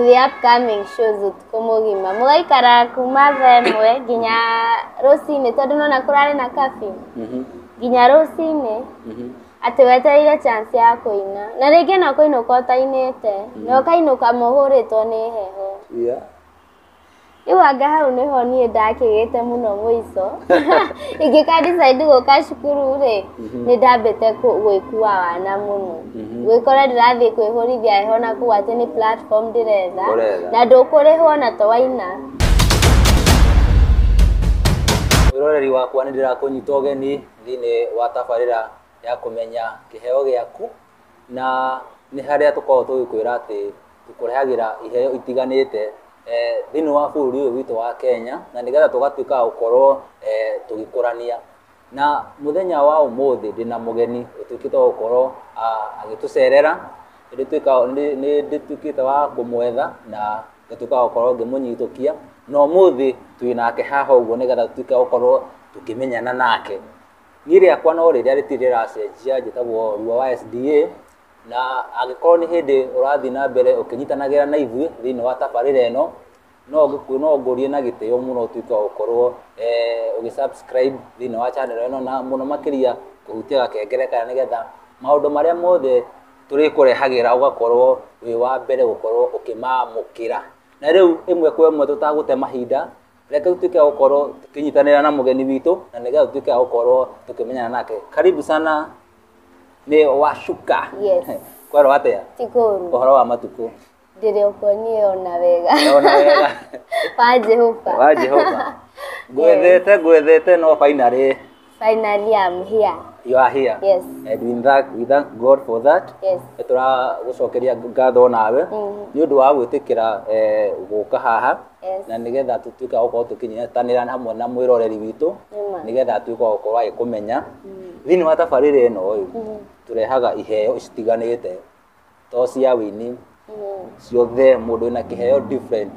the upcoming shows ũtukũ mũgima mũgaikara kuma thaa ĩmwe nginya rũcinĩ tondũ nona kũrarĩ na kabi nginya rũcinĩ Atĩ wetereire chance ya kũina. Na rĩngĩ no kũinũka ũtainĩte. Mm. Na ũkainũka mũhũrĩtwo nĩ heho. Yeah. Rĩu anga hau nĩho niĩ ndakĩgĩte mũno mũico. Ingĩka decide gũka cukuru rĩ, mhm. nĩ ndambĩte gwĩkua wana mũno. Mhm. Gwĩkora ndĩrathiĩ kwĩhũrithia heho na kũu atĩ nĩ platform ndĩretha. Na ndũkũrĩhwo na to waina. Wĩroreri wakwa nĩ ndĩrakũnyita ũgeni. thĩinĩ wa tabarĩra ya kũmenya kĩheo gĩaku na nĩ harĩa tũkoragwo tũgĩkwĩra atĩ tũkũrehagĩra iheo itiganĩte eh, thĩinĩ wa bũrũri ũyũ witũ wa Kenya na nĩgetha tũgatuĩka gũkorwo eh, tũgĩkũrania na mũthenya wa ũmũthĩ ndĩna mũgeni ũtuĩkĩte gũkorwo ah, agĩtũcerera nĩndĩtuĩkĩte wa kũmwetha na ngatuĩka wa gũkorwo ngĩmũnyitũkia na ũmũthĩ twĩ nake haha ũguo nĩgetha tutuĩke gũkorwo tũkĩmenyana nake niĩ rĩakwa no rĩrĩa rĩtirĩ rĩracenjia njĩtagwo ruo wa sda na angĩkorwo nĩ hĩndĩ ũrathiĩ na mbere ũkĩnyitanagĩra na ithuĩ thĩinĩ wa tabarĩra ĩno no ngĩkũ- no ngũrie na gĩtĩo mũno ũtuĩke wa gũkorwo eh, ũgĩ subscribe thĩinĩ wa channel ĩno na mũno makĩria kũhutia gakengere kaya nĩgetha maũndũ marĩa mothe tũrĩkũrehagĩra ũgakorwo wĩ wa mbere gũkorwo ũkĩmamũkĩra na rĩu ĩmwe kwa ĩmwe tũtagũte mahinda reke tutuĩke gũkorwo tũkĩnyitanĩra na mũgeni witũ na nĩgetha tutuĩke gũkorwo tũkĩmenyana nake karibu sana nĩ washuka yes kwerwo atĩa ũhoro wa matukũ ndĩrĩ okuo niĩ ona wega ona wega wa Jehova wa Jehova ngwethete ngwethete no finally finally I'm here you are here yes and we thank we thank God for that yes tũragũcokeria ngatho nawe mm-hmm. nĩ ũndũ wa gwĩtĩkĩra eh, gũka haha na nigetha tutuika gukorwo tukinyitanira hamwe na mwiroreri witu nigetha tuika gukorwo agikumenya mm. thiini wa tabarire ino mm. turehaga iheo citiganite to cia wini ciothe mũndũ wĩna kĩheo different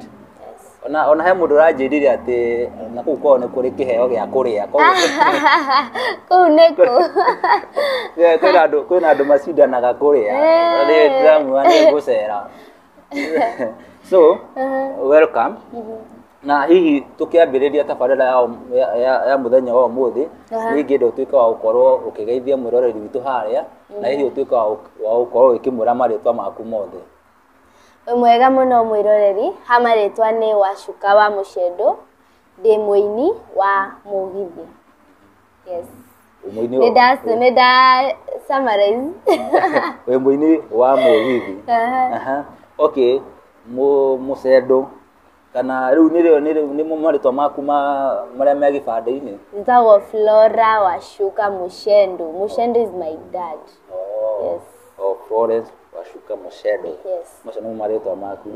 ona ona he mũndũ ũranjĩrire atĩ na kũu kwao nĩ kũrĩ kĩheo gĩa kũrĩa koguo kũu nĩkũ Yeah, kwĩna andũ kwĩna andũ macindanaga kũrĩa Eh. rĩrĩ ndĩramuona nĩ ngũcera so welcome na hihi tũkĩambĩrĩria tabarĩra ya, ũm- ya, ya, ya mũthenya wa ũmũthĩ Aha. nĩ ingĩenda ũtuĩke wa gũkorwo ũkĩgeithia mwĩroreri witũ harĩa na hihi ũtuĩke wa gũk- wa gũkorwo ũkĩmwĩra marĩtwa maku mothe Wĩ mwega mũno mwĩroreri ha marĩtwa nĩ wacuka wa mũcendo ndĩ mũini wa mũgithi yes Mũini nĩ wa- nda nĩ nda summarize wĩ mũini wa mũgithi Aha. Aha. okay Mũ- mũcendo kana rĩu nĩrĩo nĩrĩo- nĩmo marĩtwa maku ma marĩa me gĩbandĩ-inĩ Njagwo Flora Wacuka Mushendo. Mushendo is my dad. Yes. o Florence wacuka mũcendo Yes. macio nĩmo marĩtwa maku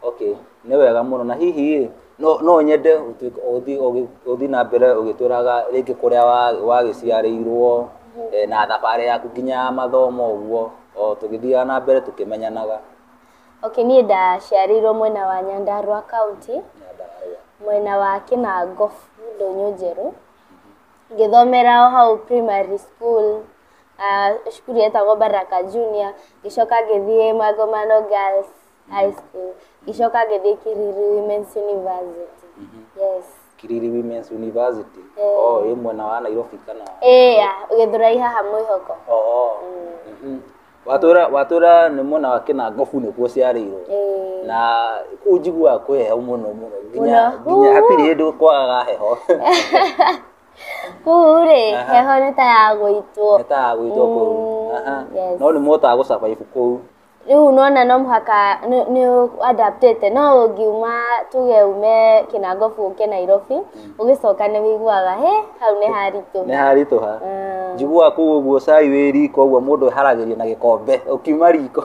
okay nĩ wega mũno na hihi ĩ, no no nyende ũtuĩke- ũthi- ũgĩ- ũthi na mbere ũgĩtwĩraga rĩngĩ kũrĩa wa- wagĩciarĩirwo eh, na thabarĩ yaku nginya ya mathomo ũguo o tũgĩthiaga na mbere tũkĩmenyanaga Okay, niĩ ndaciarĩirwo mwena wa Nyandarua county, mwena wa Kĩnango Ndũnyũ njerũ, ngĩthomera o hau primary school, cukuru yetagwo Baraka Junior, ngĩcoka ngĩthiĩ Magomano Girls High School, ngĩcoka ngĩthiĩ Kĩriri Women's University. Yes. Kĩriri Women's University, oh, ĩ mwena wa Nairobi kana? Ĩĩ ya, Gĩthũrai haha Mwĩhoko. Oh, mhm. watũra watũra nĩ mwena wa kĩnangobu nĩkuo ciarĩirwo Eh, na kuu njiguaga kwĩ heho mũno mũno nginya Mũno. nginya hatirĩ hĩndĩ kwagaga heho kuu rĩ Aha. heho nĩ ta ya gũitwo nĩ ta ya gwĩtwo kũu Mm, Aha. yes. no nĩ mũhotaga gũcabaibu kũu rĩu nona no mũhaka nĩ- nĩ adaptĩte no ũngiuma tuge ume kĩnangobu ũke nairobi ũgĩcoka nĩ wĩiguaga he hau nĩ haritũ nĩ haritũha mm. njiguaga kũu ũguo cai wĩ riko ũguo mũndũ eharagĩria na gĩkombe ũkiuma riko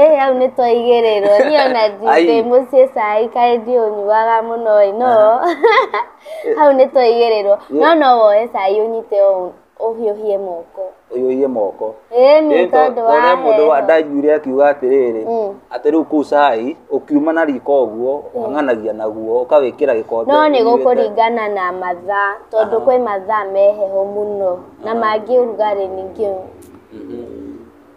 ĩ hau nĩ twaigĩrĩrwo niĩ ona ndĩ mũciĩ cai kaĩ ndiũnyuaga mũno ĩ no hau nĩ twaigĩrĩrwo no no woe cai ũnyite ũũ Ũhiũhie moko. Ũhiũhie moko. Ĩni Ĩĩ to- tondũ tondũ he mũndũ wa- wa ndanjiguire akiuga atĩrĩrĩ Mm. atĩ rĩu kũu cai ũkiuma na riko ũguo ũkang'anagia naguo ũkawĩkĩra gĩkombe No nĩ ũnyuĩte. gũkũringana na mathaa tondũ Aha. kwĩ mathaa me heho mũno na mangĩ ũrugarĩ ningĩ Mhm.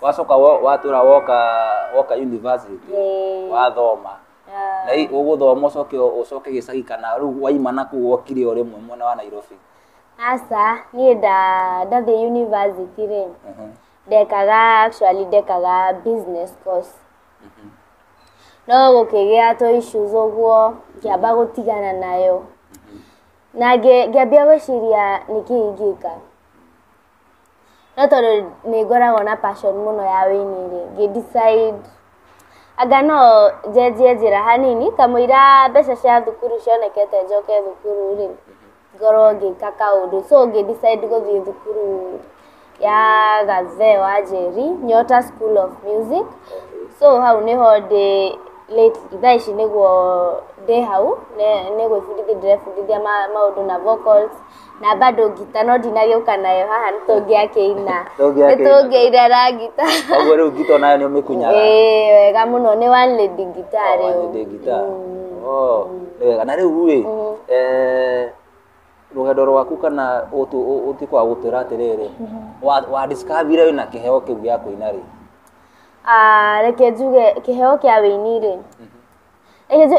wacoka wo- watũra woka woka university Ĩĩ. wathoma Yeah. na i- ũgũthoma ũcoke ũcoke gĩcagi kana rĩu waima na kũu wokire o rĩmwe mwena wa nairobi aca niä nda ndathiä university rä Mhm. ndekaga actually ndekaga business course no gå kä gä a tå issues å guo ngäamba gå tigana nayo na ngä- ngĩambia gwä ciria nä kä ingä ka No tondũ nĩ ngoragwo na passion mũno ya ũini rĩ, ngĩ decide anga no njenjie njĩra hanini, kamũira mbeca cia thukuru cionekete njoke thukuru rĩ, ngorwo ngĩka kaũndũ. So ngĩ decide gũthiĩ thukuru ya Gathee wa Njeri, Nyota School of Music. So hau nĩho ndĩ lately, thaa ici nĩguo ndĩ hau, nĩ gwĩbundithia ndĩrebundithia maũndũ na vocals. Na bado ngita no ndinagĩũka nayo haha nĩ tũngĩakĩina. Nĩ tũngĩaina na ngita. Koguo rĩu ngita o nayo nĩ ũmĩkunyaga? Ĩĩ wega mũno, nĩ one lady guitar rĩu. One lady guitar. Oo, nĩ wega. Na rĩu rĩ, rũgendo rwaku kana ũtuĩke wa gũtwĩra atĩrĩrĩ, wa discover ire wĩna kĩheo kĩu gĩa kũina rĩ? Reke njuge kĩheo kĩa wĩini rĩ,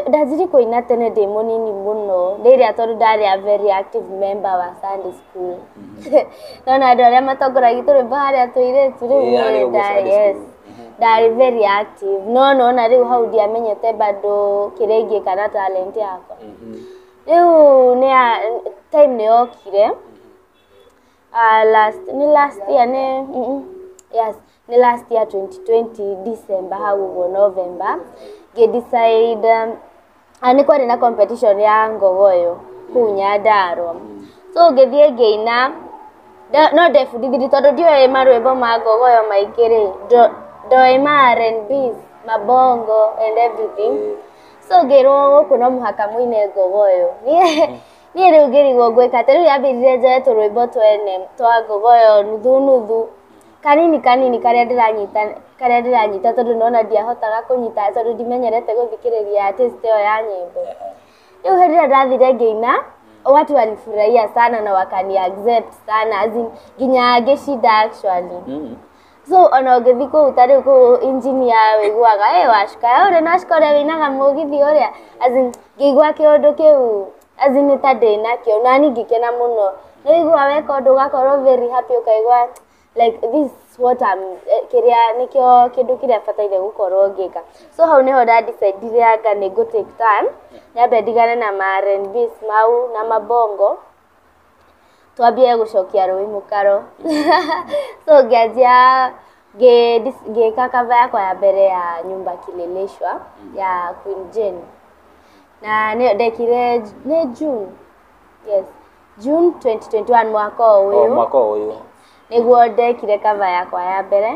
Ndanjirie kũina tene ndĩ mũnini mũno, rĩrĩa tondũ ndarĩ a very active member wa Sunday school. No na andũ arĩa matongoragia tũrĩ harĩa tũirĩtu rĩu Ĩĩ, harĩa nĩ ũguo ndarĩ Sunday yes. school. Ndarĩ very active. No no na rĩu hau ndiamenyete bado kĩrĩa ingĩka na talent yakwa. Rĩu nĩ ya time nĩ yokire, Ah, last ni last year ni mm -mm. yes ni last year 2020 December haguo November ngi decide um, ah, ni kwari na competition ya ngogoyo kuu Nyandarua so ngithie ngiina nda- no ndebundithirie tondũ ndioĩ marwĩmbo ma ngogoyo maingĩ rĩ ndo- ndoĩ ma R&B mabongo and everything so ngĩrwo gũkũ no mũhaka mũine ngogoyo niĩ rĩu ngĩrigwo ngwĩka atĩa, rĩu yambĩrire njoe tũrwĩmbo twene twa ngobo ĩyo nuthu nuthu, kanini kanini karĩa ndĩranyita karĩa ndĩranyita tondũ nĩwona ndiahotaga kũnyita tondũ ndimenyerete gũthikĩrĩria artist ĩyo ya nyĩmbo. Rĩu hĩndĩ ĩrĩa ndathire ngĩina, watu walifurahia sana na wakani accept sana as in nginya ngĩcinda actually. so ona ũngĩthiĩ kũu ta rĩu kũu injinia wĩiguaga ĩ wacuka ya ũrĩa nacuka ũrĩa wĩinaga mũgithi ũrĩa as in ngĩigua kĩũndũ kĩu as in nĩ ta ndĩnakĩo na niĩ ngĩkena mũno nĩ ũigua weka ũndũ ũgakorwo very happy ũkaigua like this is what I'm eh, kĩrĩa nĩkĩo kĩndũ kĩrĩa bataire gũkorwo ngĩka so hau nĩho nda decidire anga nĩ ngũ take time nyambe ndigane na ma R&Bs mau na mabongo Twambie gũcokia rũĩ mũkaro, so ngĩanjia ngĩka cover yakwa ya mbere ya nyumba kileleshwa ya Queen Jane, na ndekire nĩ June, yes June twenty twenty one mwaka ũyũ, nĩguo ndekire cover yakwa ya mbere.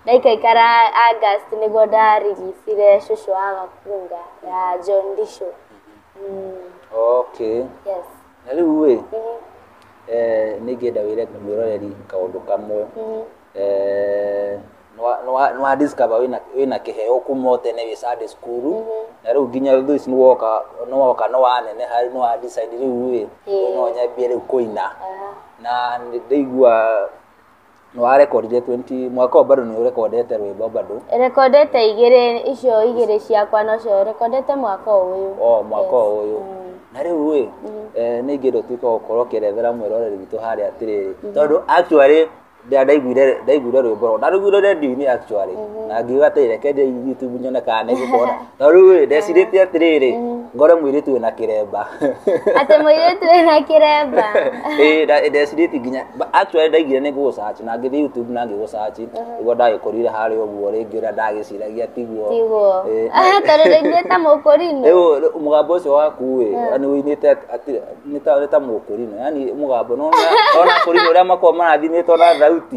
Ndaikaikara August nĩguo ndarigicire cũcũ wa Gakunga ya John Ndicũ. Mm, Okay. yes. Na rĩu ĩ, Mhm, eh, nĩ ingĩenda wĩre mũroreri kaũndũ kamwe. mhm. Eh, nĩwa- nĩwa- nĩwa discover wĩna- wĩna kĩheo kuma o tene wĩ Sunday school na rĩu nginya thũ ici nĩwoka nĩwoka nĩwaneneha rĩu nĩwa decide rĩu ĩ Ĩĩ. no nyambie rĩu kũina Ah, na nĩ ndaigua Nĩ wa rekondire 20 mwaka ũyũ bado nĩ ũrekondete rwĩmbo bado. Rekondete igĩrĩ icio igĩrĩ ciakwa nocio rekondete mwaka ũyũ. O mwaka ũyũ. Na rĩu rĩ, eh, nĩ ingĩenda ũtuĩke wa gũkorwo ũkĩerethera mwĩroreri witũ harĩa atĩrĩrĩ. Tondũ actually nda- ndaiguire ndaiguire rwĩmbo rũu. Ndarũiguire radio-inĩ actually. Na ngiuga atĩrĩ reke thiĩ YouTube nyone kana nĩ ngũkora. Na rĩu rĩ, ndecirĩtie atĩrĩrĩ, ngore mũirĩtu wĩna kĩremba. Atĩ mũirĩtu wĩna kĩremba. Ĩĩ, nda- ndecirĩtie nginya, ba- actually ndaigire nĩ gũ search na ngĩthiĩ YouTube na ngĩgũ search, nĩguo ndagĩkorire harĩa ũguo rĩngĩ ũrĩa ndagĩciragia tiguo. Tiguo. Ĩĩ. Aha, tondũ rĩngĩ ta mũkũrinũ. Rĩu rĩu mũgambo ũcio waku ĩ, nĩ ũinĩte at- atĩ- nĩ ta- nĩ ta mũkũrinũ, yani mũgambo, nĩ wona- nĩ wona akũrinũ ũrĩa makoragwo marathimĩtwo na thauti.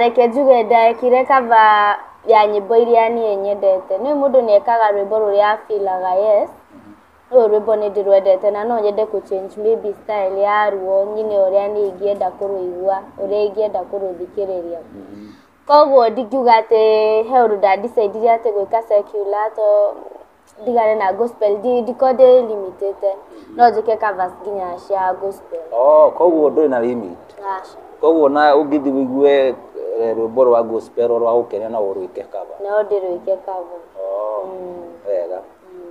Reke njuge ndekire cover ya nyĩmbo iria niĩ nyendete. Nĩũĩ mũndũ nĩ ekaga rwĩmbo rũrĩa a feel aga yes, rũrũ rwĩmbo nĩ ndĩrwendete na no nyende kũ change maybe style ya ruo nyine ũrĩa niĩ ingĩenda kũrũigua, ũrĩa ingĩenda kũrũthikĩrĩria. Koguo ndingiuga atĩ he ũndũ nda decide ire atĩ gwĩka secular tondũ ndigane na gospel ndi- ndikorwo ndĩ limitĩte no njĩke covers nginya cia gospel oh koguo ndũrĩ na limit aca koguo na ũngĩthi wĩigue eh, rwĩmbo rwa gospel rwa gũkenia no ũrwĩke kaba no ndĩrũike cover oh wega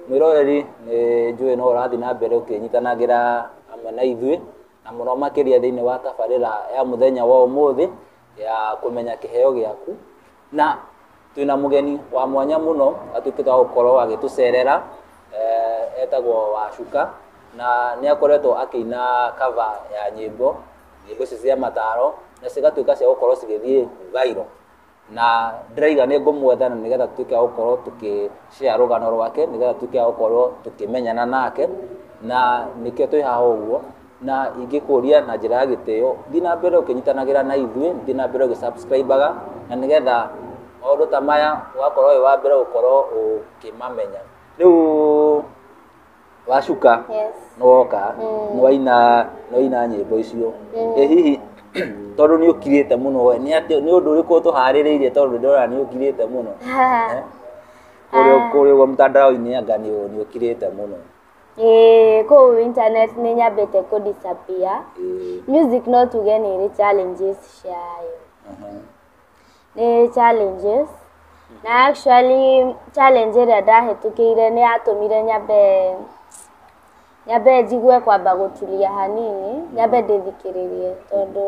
mwĩroreri nĩ njũĩ no ũrathiĩ na mbere ũkĩnyitanagĩra hamwe na ithuĩ na mũno makĩria thĩinĩ wa tabarĩra ya mũthenya wa ũmũthĩ ya kũmenya kĩheo gĩaku Na twĩna mũgeni wa mwanya mũno atuĩkĩte wa gũkorwo agĩtũcerera eh, etagwo Wacuka na nĩ akoretwo akĩina kava ya nyĩmbo nyĩmbo icio cia mataro na cigatuĩka cia gũkorwo cigĩthiĩ vairo na ndĩraiga nĩ ngũmwetha na nĩgetha tuĩke wa gũkorwo tũkĩshare rũgano rwake nĩgetha tuĩke wa gũkorwo tũkĩmenyana nake na nĩkĩo twĩ haha ũguo na ingĩkũria na njĩra ya gĩtĩo thiĩ na mbere ũkĩnyitanagĩra na ithuĩ thiĩ na mbere ũgĩsubscribaga na nĩgetha maũndũ ta maya ũgakorwo wĩ wa mbere gũkorwo ũkĩmamenya rĩu wacuka Yes. nĩ woka Mm. nĩ waina nĩ waina nyĩmbo icio Mm. ĩ hihi tondũ nĩ ũkirĩte mũno we nĩ atĩ nĩ ũndũ ũrĩkũ tũharĩrĩirie tondũ ndĩrona nĩ ũkirĩte mũno kũrĩa kũrĩa ũguo mtandao-inĩ anga nĩ nĩ ũkirĩte mũno ĩĩ kũu internet nĩ nyambĩte kũ disappear Ĩĩ, music no tuge nĩ ĩrĩ challenges ciayo aha. nĩ challenges na actually challenge ĩrĩa ndahĩtũkĩire nĩ yatũmire nyambe nyambe njigue kwamba gũtulia hanini nyambe ndĩthikĩrĩrie tondũ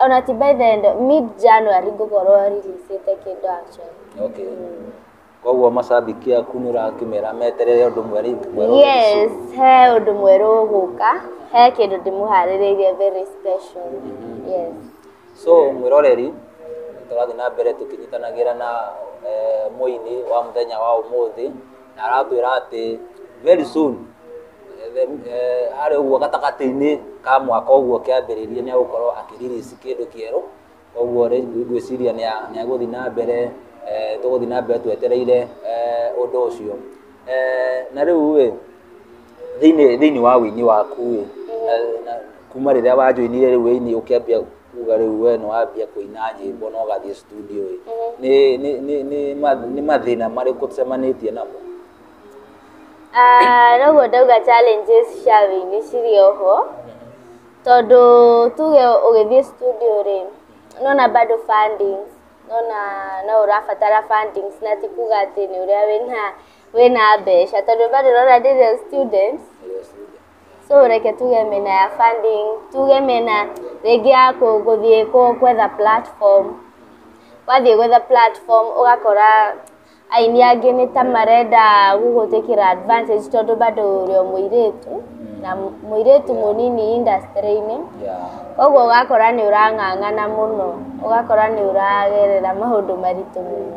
ona ti by the end mid January ngũkorwo releasĩte kĩndũ actually okay koguo macambĩki aku nĩ ũrakĩmera meterere ũndũ mwerũ mwerũ yes he ũndũ mwerũ ũgũka he kĩndũ ndĩmũharĩrĩirie very special mm-hmm. yes so mwĩroreri tũrathiĩ na mbere tũkĩnyitanagĩra na eh, mũini wa mũthenya wa ũmũthĩ na aratwĩra atĩ very soon eh, the- eh, harĩ ũguo gatagatĩ-inĩ ka mwaka ũguo kĩambĩrĩria nĩ agũkorwo akĩririci kĩndũ kĩerũ koguo rĩ- ngwĩciria nĩ a- nĩ agũthiĩ na mbere eh, tũgũthiĩ na mbere twetereire eh, ũndũ ũcio Eh, na rĩu ĩ Thĩinĩ wa ũini waku rĩ, kuma rĩrĩa wanjoinire rĩu ũini ũkĩambia kuga rĩu we nĩ wambia kũina nyĩmbo na ũgathiĩ studio ĩ, nĩ mathĩna marĩkũ ũcemanĩtie namo? Noguo ndauga challenges cia ũini cirĩ o ho, tondũ tuge ũgĩthiĩ studio rĩ, nĩ wona bado funding, nĩ wona no ũrabatara funding na ti kuga atĩ nĩ ũrĩa wĩna wĩna mbeca tondũ bado ũrona ndĩrĩ o student so reke tuge mĩena ya funding tuge mĩena rĩngĩ ya gũthiĩ gwetha platform wathiĩ gwetha platform ũgakora aini angĩ nĩ ta marenda gũgũĩtĩkĩra advantage tondũ bado ũrĩ o mũirĩtu na mũirĩtu mũnini industry -inĩ ũguo ũgakora nĩ ũrang'ang'ana mũno ũgakora nĩ ũragerera maũndũ maritũ mũno.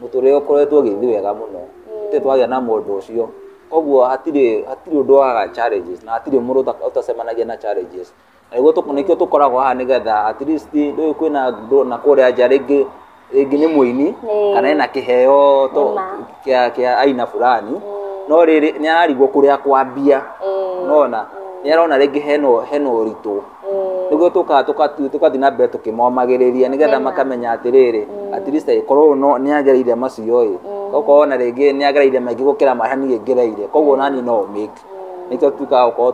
mũtũrĩre ũkoretwo ũgĩthiĩ wega mũno gũtirĩ twagĩa na mũndũ ũcio koguo hatirĩ hatirĩ ũndũ waga challenges na hatirĩ mũndũ ũtacemanagia na challenges na nĩguo nĩkĩo tũkoragwo haha nĩgetha at least ndũĩ kwĩna ndũna kũrĩa nja rĩngĩ rĩngĩ nĩ mũini kana ena kĩheo to kĩa kĩa aina fulani no rĩrĩ nĩararigwo kũrĩa kwambia nona nĩarona rĩngĩ hena hena ũritũ nĩguo tũkaga tũgathiĩ na mbere tũkĩmomagĩrĩria nĩgetha makamenya atĩrĩrĩ mm. at least korwo no nĩ agereire macio ĩ mm. okorwo na rĩngĩ nĩ agereire maingĩ gũkĩra marĩa niĩ ngereire koguo nani no make mm. nĩkĩo tukaga gũkorwo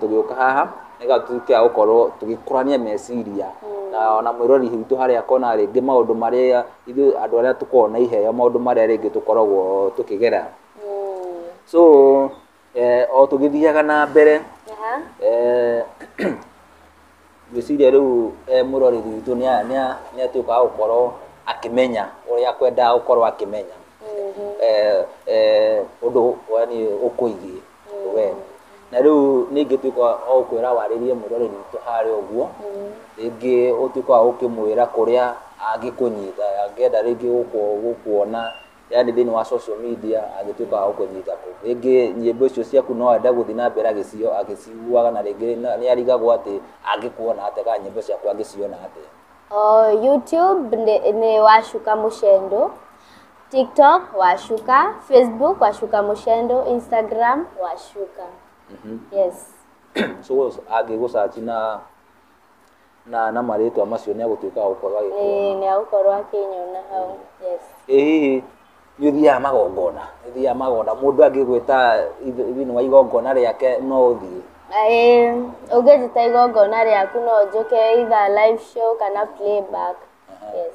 tũgĩũka haha nĩgetha tuke a gũkorwo tũgĩkũrania meciria na ona mwĩrori witũ harĩa akona rĩngĩ maũndũ marĩa ithuĩ andũ arĩa tũkoragwo na iheo maũndũ marĩa rĩngĩ tũkoragwo tũkĩgera so Eh, o tũgĩthiaga na mbere Aha. eh, ngwĩciria rĩu eh, mũrori witũ nĩ a- nĩ a- nĩ atuĩkaga gũkorwo akĩmenya ũrĩa kwendaga gũkorwo akĩmenya Mhm. eh, eh, ũndũ yani ũkũigiĩ we na rĩu ningĩtuĩka o kwĩra warĩrie mũrori witũ harĩa ũguo rĩngĩ ũtuĩka wa gũkĩmwĩra kũrĩa angĩkũnyita angĩenda rĩngĩ gũkũ- gũkuona yani thĩinĩ wa social media agĩtuĩka wa gũkũnyita kũ rĩngĩ nyĩmbo icio ciaku no enda gũthiĩ na mbere agĩcio agĩciguaga na rĩngĩ na- nĩ arigagwo atĩ angĩkuona atĩa kana nyĩmbo ciaku angĩciona atĩa Oh, YouTube nĩ nĩ wacuka mũcendo tiktok wacuka facebook wacuka mũcendo instagram wacuka yes so angĩgũcaci na na na marĩtwa macio nĩ agũtuĩka wa gũkorwo agĩkuona Ĩĩ, nĩ agũkorwo akĩnyona hau yes ĩ hihi nĩ ũthiaga magongona nĩ ũthiaga magongona mũndũ angĩgwĩta ithe- thĩinĩ wa igongona rĩake no ũthiĩ Ĩĩ, ũngĩnjĩta igongona rĩaku no njũke either live show kana playback yes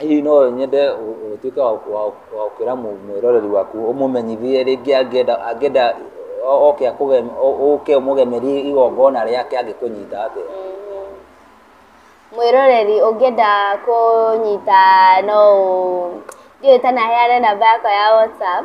Hihi no nyende ũtuĩke wa gũkĩra mwĩroreri waku ũmũmenyithie rĩngĩ angĩenda angĩenda oke akũge ũke ũmũgemerie igongona rĩake angĩkũnyita atĩa? Mwĩroreri ũngĩenda kũnyita no ũ, ndiũĩ ta naheane namba yakwa ya WhatsApp.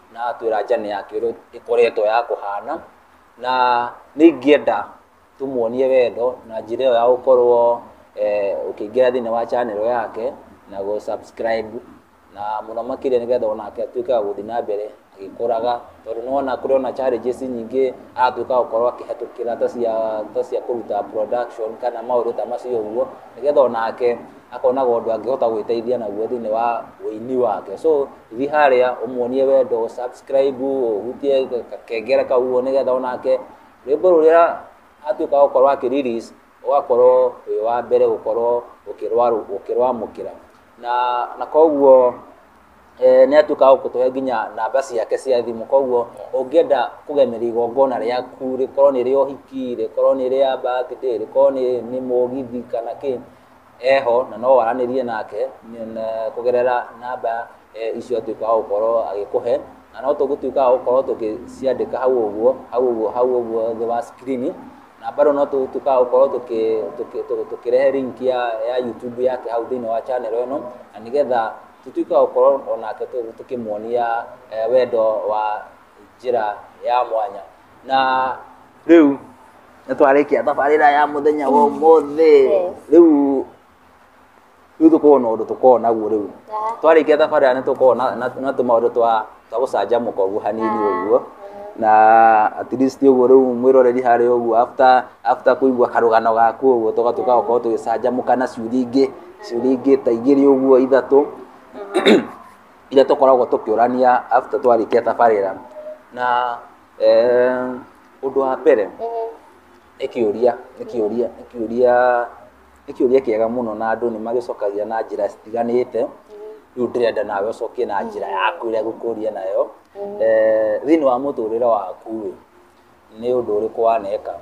na atwĩra njane yake ũrĩa ĩkoretwo ya kũhana, na nĩ ingĩenda tũmuonie wendo na njĩra ĩyo ya gũkorwo ũkĩingĩra thĩinĩ wa channel yake na gũ subscribe na mũno makĩria nĩgetha onake atuĩke wa gũthiĩ na mbere agĩkũraga, tondũ nĩ wona kũrĩ ona challenges nyingĩ aratuĩka wa gũkorwo akĩhĩtũkĩra ta cia kũruta production kana maũndũ ta macio ũguo, nĩgetha onake akonaga ũndũ angĩhota gwĩteithia naguo thĩinĩ wa ũini wake so thiĩ harĩa ũmuonie wendo subscribe ũhutie kengere kau ũguo nĩgetha onake rwĩmbo rũrĩa atuĩka gũkorwo akĩ release ũgakorwo wĩ wa mbere gũkorwo ũkĩrwa- ũkĩrwamũkĩra na na koguo eh, nĩ atuĩka gũkũtũhe nginya namba ciake cia thimũ koguo ũngĩenda kũgemeria igongona rĩaku rĩkorwo nĩ rĩa ũhiki rĩkorwo nĩ rĩa birthday rĩkorwo nĩ nĩ mũgithi kana kĩ eho na no waranĩrie nake kũgerera namba icio atuĩka wa gũkorwo agĩkũhe na no tũgũtuĩka wa gũkorwo tũgĩciandĩka hau ũguo hau ũguo hau ũguo thĩ wa screen na bado no tũgũtuĩka wa gũkorwo tũkĩrehe link ya ya YouTube yake hau thĩinĩ wa channel ĩno na nĩgetha tũtuĩke wa gũkorwo onake tũkĩmuonia wendo wa njĩra ya mwanya na rĩu nĩ twarĩkia tabarĩra ya mũthenya wa ũmũthĩ rĩu rĩu tũkorwo na ũndũ tũkorwo naguo rĩu twarĩkia tabarĩra nĩ tũkorwo na- na na tũmaũndũ twa twa gũcanjamũka ũguo hanini ũguo na at least ũguo rĩu mwĩroreri harĩ ũguo after after kũigua karũgano gaku ũguo tũgatuĩka gũkorwo tũgĩcanjamũka na ciũria ingĩ ciũria ingĩ ta igĩrĩ ũguo ithatũ iria tũkoragwo tũkĩũrania after twarĩkia tabarĩra. Na ũndũ wa mbere, nĩ kĩũria, nĩ kĩũria, nĩ kĩũria, nĩ kĩũria kĩega mũno na andũ nĩ magĩcokagia na njĩra citiganĩte, rĩu ndĩrenda nawe ũcokie na njĩra yaku ĩrĩa ngũkũria nayo. Thĩinĩ wa mũtũrĩre waku rĩ, nĩ ũndũ ũrĩkũ waneka?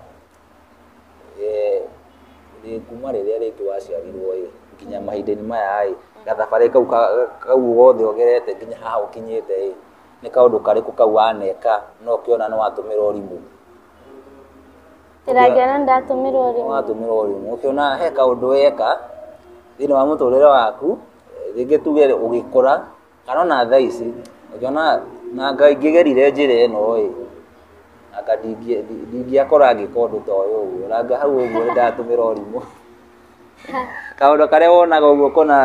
Ĩĩ kuma rĩrĩa rĩngĩ waciarirwo ĩ nginya mahinda-inĩ maya ĩ, gathabarĩ kau gothe ũgerete nginya haha ũkinyĩte ĩ, nĩ kaũndũ karĩkũ kau waneka na ũkĩona nĩ watũmĩra ũrimũ? Kĩrĩa ingĩona nĩ ndatũmĩra ũrimũ? Nĩ watũmĩra ũrimũ. Ũkĩona he kaũndũ weka thĩinĩ wa mũtũrĩre waku, rĩngĩ tuge ũgĩkũra kana ona thaa ici ũkĩona na nga ingĩgerire njĩra ĩno ĩ anga ndingĩ- ndi- ndingĩakora ngĩka ũndũ ta ũyũ ũguo na nga hau ũguo ndatũmĩra ũrimũ kaũndũ karĩa wonaga ũguo kona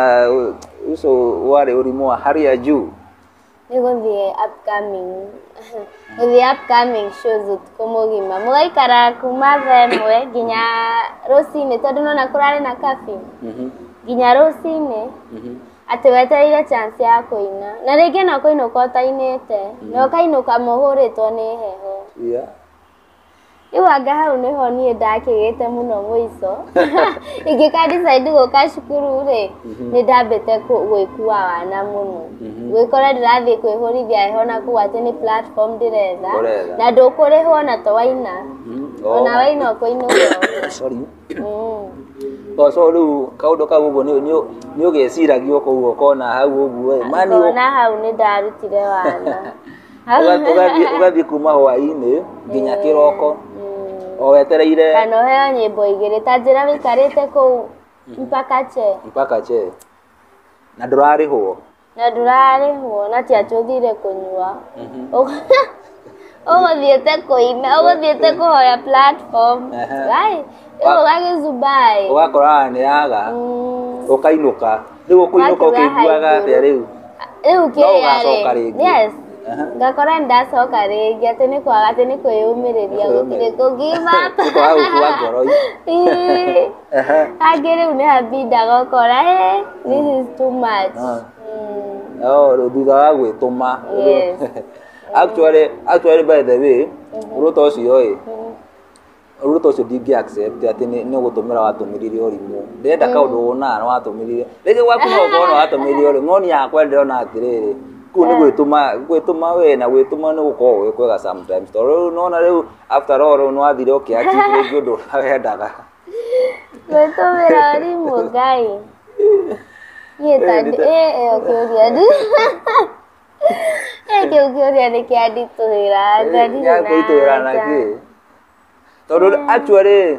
uso warĩ ũrimũ wa hali ya juu nä gå thiä gå thiä upcoming shows å tukå må gima må gaikara kuma thaa ĩmwe nginya rå cinä tondå nona kå rarä na kabi Mhm, nginya rå cinä mhm. Atĩ wetereire chance ya kũina. Na rĩngĩ no kũinũka ũtainĩte. Mm. Na ũkainũka mũhũrĩtwo nĩ heho. Yeah. Rĩu anga hau nĩho niĩ ndakĩgĩte mũno mũico. Ingĩka decide gũka cukuru rĩ, mhm. nĩ ndambĩte gwĩkua wana mũno. Mhm. Gwĩkora ndĩrathiĩ kwĩhũrithia heho na kũu atĩ nĩ platform ndĩretha. Na ndũkũrĩhwo na to waina. Mhm. Ona waina ũkũinũka. Sorry. Boco rĩu kaũndũ kau ũguo nĩ ũgeciragia o kũu ũkona hau ũguo ĩ mani ngona hau nĩ ndarutire wana ũgathiĩ kuma hwaĩ-inĩ nginya kĩroko o wetereire kana ũheo nyĩmbo igĩrĩ ta njĩra wĩikarĩte kũu mpaka che mpaka che na ndũrarĩhwo na ndũrarĩhwo na ti atĩ ũthire kũnyua ũgũthiĩte kũina ũgũthiĩte kũhoya platform gai ũga gĩzubai ũgakora nĩ yaga ũkainũka rĩu ũkũinũka ũkĩiguaga atĩa rĩu rĩu kĩrĩarĩ yes ngakora ndacoka rĩngĩ atĩ nĩ kwaga atĩ nĩ kwĩyũmĩrĩria gũtirĩ kũngimata kangĩrĩu nĩ habinda gokora eh, this is too much Ah. Mm, Oh, rĩu thutha wa gwĩtũma yes. actually actually by the way ruto ũcio ĩ Mm, ruto ũcio ndingĩ accept atĩ nĩ nĩ gũtũmĩra watũmĩrire ũrimũ ndenda kaũndũ wona nĩ watũmĩrire rĩngĩ gwaku no ũkorwo nĩ watũmĩrire ũrimũ no niĩ yakwa ndĩrona atĩrĩrĩ kũu nĩ gwĩtũma gwĩtũma we na gwĩtũma nĩ gũkorwo gwĩ kwega sometimes tondũ rĩu nona rĩu after all rĩu nĩwathire ũkĩachieve rĩngĩ ũndũ ũrĩa wendaga gwĩtũmĩra arimũ ngai niĩ tandĩ ĩ ĩyo kĩũria ndi ĩ kĩu kĩũria nĩ kĩanditũhĩra ngarire na gĩakũitũhĩra na anja kĩ tondũ actually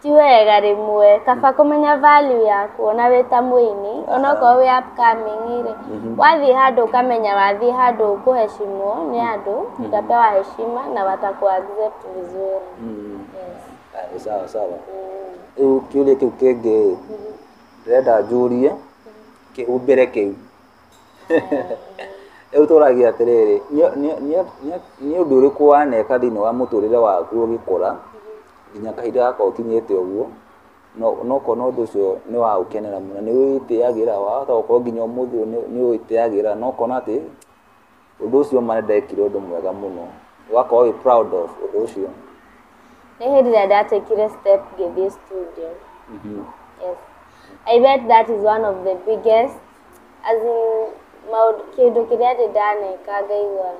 ti wega rĩmwe kaba kũmenya value yaku ona wĩ ta mũini onokorwo wĩ upcoming rĩ mhm. wathiĩ handũ ũkamenya wathiĩ handũ ũkũheshimwo nĩ mhm. andũ mhm. utapewa heshima na wataku accept vizuri ah, sawa sawa rĩu mm. kĩũria kĩu kĩngĩ ndĩrenda njũrie kĩhumbĩre kĩu Rĩu tũragia atĩrĩrĩ, nĩ ũndũ ũrĩkũ waneka thĩinĩ wa mũtũrĩre waku ũgĩkũra nginya kahinda gaka ũkinyĩte ũguo, na ũkona ũndũ ũcio nĩ wa gũkenera mũno, nĩ wĩtĩyagĩra, wahota gũkorwo nginya ũmũthĩ ũyũ nĩ wĩtĩyagĩra na ũkona atĩ... ũndũ ũcio ũma nĩ ndekire ũndũ mwega mũno ũgakorwo wĩ proud of ũndũ ũcio Nĩ hĩndĩ ĩrĩa ndatekire step ngĩthiĩ studio. Yes. I bet that is one of the biggest as in maũndũ kĩndũ kĩrĩa ndĩ ndaneka ngaigua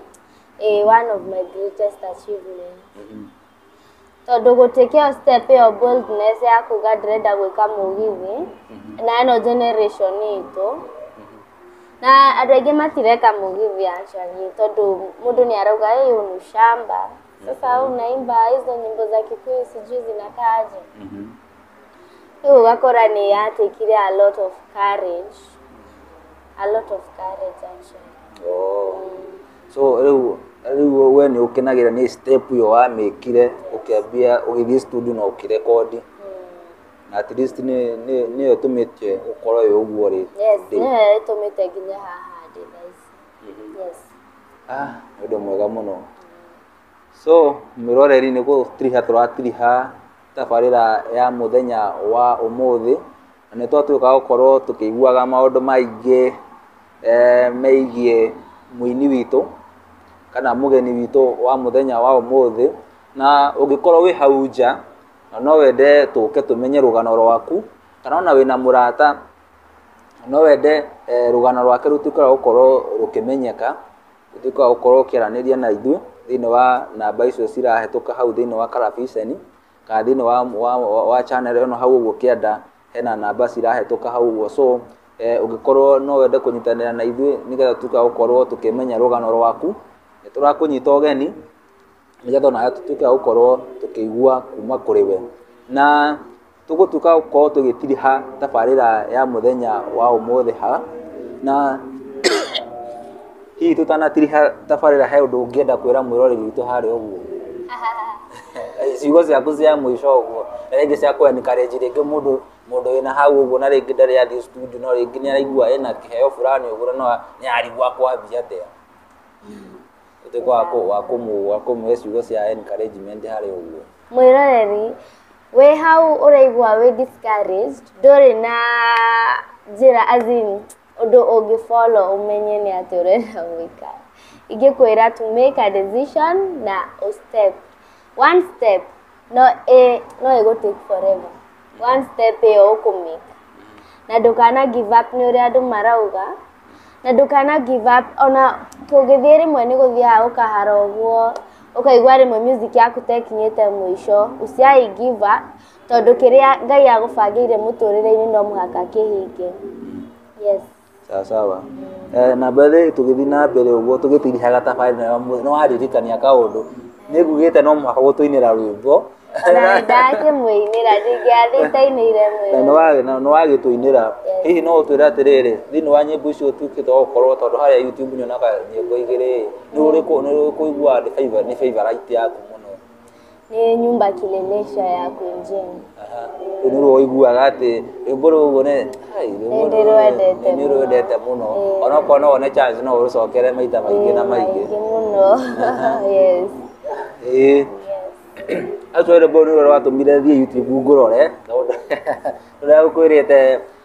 eh, one of my greatest achievements. tondũ gũtuĩke ĩyo step ĩyo boldness ya kuga ndĩrenda gwĩka mũgithi, na ĩno generation itũ, na andũ aingĩ matireka mũgithi actually tondũ mũndũ nĩ arauga ĩ huu ni shamba, sasa unaimba hizo nyimbo za kikuyu sijui zinakaa aje. Rĩu ũgakora nĩ ya take -ire a lot of courage, a lot of courage actually. So rĩu rĩu we nĩ ũkenagĩra nĩ step ĩyo wamĩkire ũkĩambia ũgĩthiĩ studio na ũkĩrekondi na at least nĩ nĩ nĩyo ĩtũmĩte ũkorwo wĩ ũguo rĩ Yes, ndĩ. nĩyo ĩtũmĩte nginya haha ndĩ thaa ici. Yes. Ah, nĩ ũndũ mwega mũno so mwĩroreri nĩ gũtiriha tũratiriha tabarĩra ya mũthenya wa ũmũthĩ, na nĩ twatuĩka gũkorwo tũkĩiguaga maũndũ maingĩ megiĩ mũini witũ, kana mũgeni witũ wa mũthenya wa ũmũthĩ, na ũngĩkorwo wĩ hau nja, na no wende tũke tũmenye rũgano rwaku, kana ona wĩna mũrata, no wende rũgano rwake rũtuĩke rwa gũkorwo rũkĩmenyeka. ũtuĩke wa gũkorwo ũkĩaranĩria na ithuĩ thĩinĩ wa namba icio cirahetũka hau thĩinĩ wa karabiceni, kana thĩinĩ wa wa wa channel ĩno hau ũguo ũkĩenda, hena namba cirahetũka hau ũguo so ũngĩkorwo no wende kũnyitanĩra na ithuĩ nĩgetha tũtuĩke a gũkorwo tũkĩmenya rũgano rwaku, nĩ tũrakũnyita ũgeni, nĩgetha onawe tũtuĩke a gũkorwo tũkĩigua kuuma kũrĩ we. Na tũgũtuĩka gũkorwo tũgĩtiriha tabarĩra ya mũthenya wa ũmũthĩ ha, na hihi tũtanatiriha tabarĩra he ũndũ ũngĩenda kwĩra mwĩroreri witũ harĩa ũguo? ciugo ciaku cia mũico ũguo na rĩngĩ cia kũencourage rĩngĩ mũndũ mũndũ wĩna hau ũguo na rĩngĩ ndarĩ athiĩ studio no rĩngĩ nĩ araigua ena kĩheo fulani ũguo no nĩ arigua akwambia atĩa ũtuĩke wa kũ- wa kũmũ- wa kũmũhe ciugo cia encouragement harĩ ũguo mwĩroreri wĩ hau ũraigua wĩ discouraged ndũrĩ na njĩra as in ũndũ ũngĩ follow ũmenye nĩ atĩ ũrenda gwĩka ingĩkwĩra to make a decision na ũ step one step no ĩ no ĩgũ take forever one step ĩyo ũkũmĩka na ndũkana give up nĩ ũrĩa andũ marauga na ndũkana give up ona tũngĩthiĩ rĩmwe nĩ gũthiaga ũkahara ũguo ũkaigua rĩmwe music yaku tekinyĩte mũico usiai give up tondũ kĩrĩa ngai agũbangĩire mũtũrĩre-inĩ no mũhaka kĩhinge yes Sawa sawa. Eh, na by the way tũgĩthiĩ na mbere ũguo tũgĩtirihaga thabarĩ nayo mũthĩ, nĩ wandirikania kaũndũ. Nĩ ngugĩte no mũhaka gũtũinĩra rwĩmbo. Ona ndakĩmũinĩra ndingĩathĩtainĩire Na nĩ wa- na nĩ wagĩtũinĩra. Hihi no ũtwĩre atĩrĩrĩ, thĩinĩ wa nyĩmbo icio ũtuĩkĩte wa gũkorwo tondũ harĩa YouTube nyonaga nyĩmbo igĩrĩ-ĩ, nĩ ũrĩkũ nĩ ũrĩkũ ũiguaga nĩ favourite yaku mũno? Nĩ nyumba kilelesha ya kwenjeni. Rĩu nĩruo ũiguaga atĩ rwĩmbo rũrũ nĩ hai, rwĩmbo Nĩ ndĩrwendete rũrũ nĩ mũno. rwendete mũno Ĩĩ. onokorwo no wone chance no ũrũcokere maita maingĩ na maingĩ Maingĩ mũno. Yes. Ĩĩ. Actually rwĩmbo rũrũ nĩruo rwatũmire thiĩ YouTube ngũrore tondũ rũrĩa ũkwĩrĩte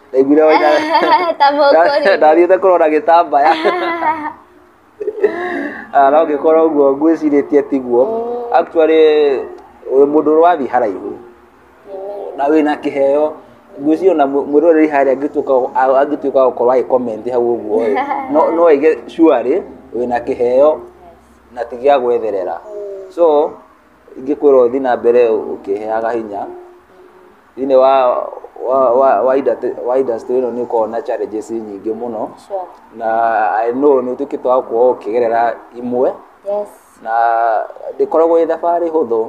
ndaiguire waina Ta mũkũringa. ndathiĩte kũrora gĩtambaya Ah, na ũngĩkorwo ũguo ngwĩcirĩtie tiguo actually wĩ mũndũ ũrathiĩ haraihu na wĩna kĩheo ngwĩciria ona mũ- mwĩroreri harĩa angĩtuĩka a- angĩtuĩka wa gũkorwo agĩkomenti hau ũguo ĩ, no- no aige shuarĩ wĩna kĩheo na ti gĩa gwetherera so ingĩkwĩra ũthiĩ na mbere ũkĩheaga hinya thĩinĩ wa wa wa wa industry wa industry ĩno nĩ ũkoragwo na challenges nyingĩ mũno Sure. na I know nĩ ũtuĩkĩte wa kuohwo ũkĩgerera imwe Yes. na ndĩkoragwo ĩ thabarĩ hũthũ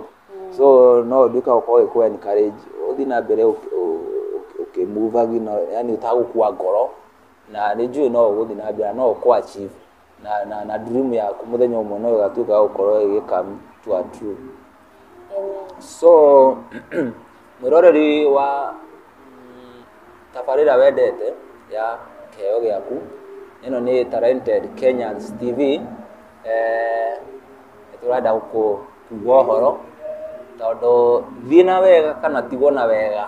so no nduĩka gũkorwo ĩkũ encourage ũthiĩ na mbere ũkĩ- ũ- ũ- ũkĩmuvagi na yani ũtagũkua ngoro na nĩ njũĩ no ũgũthiĩ na mbere na no ũkũ achieve na na na dream yaku muthenya umwe no igatuika ya gukorwo igikami to a true so mwiroreri wa mm, tabarira wendete ya keo giaku ino ni talented kenyans tv eh, turenda kugwa horo tondu thina wega kana tigwo na wega